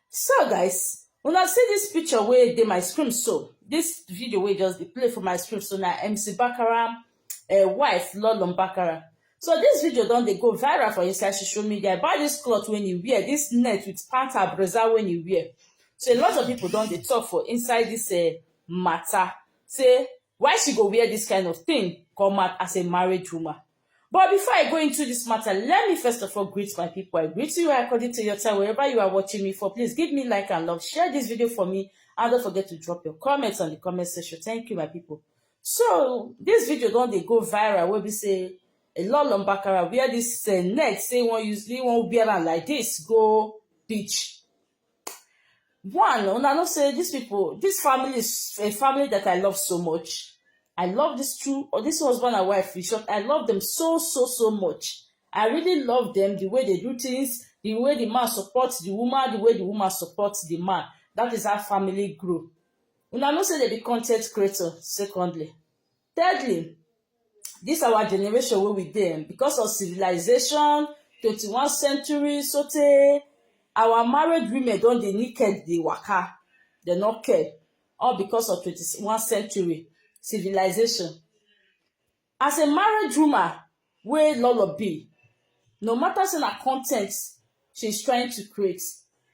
so guys una see dis picture wey dey my screen so dis video wey just dey play for my screen so na mc bakara uh, wife lolon bakara so dis video don dey go viral for inside social media about dis cloth wey e wear dis net with pant abreza wey e wear so a lot of people don dey talk for inside dis uh, matter say why she go wear dis kind of thing come out as a married woman. But before I go into this matter, let me first of all greet my people. I greet you according to your time, wherever you are watching me for. Please give me like and love, share this video for me, and don't forget to drop your comments on the comment section. Thank you, my people. So, this video don't they go viral We'll be say, a lot of Lombakara wear this uh, neck, say one usually won't wear like this, go beach. one una know say dis pipo dis family is a family dat I love so much I love dis two or dis husband and wife in short I love dem so so so much I really love dem di way dey do tins di way di man support di woman di way di woman support di man dat is how family grow una know say dem be con ten t creator secondly Thirdly, this our generation wey we dey because of civilization, twenty one century sotey our married women don dey naked dey waka, dem no care all because of twenty one century civilization. As a married woman wey Lolo be, no matter sey na con ten t she is trying to create,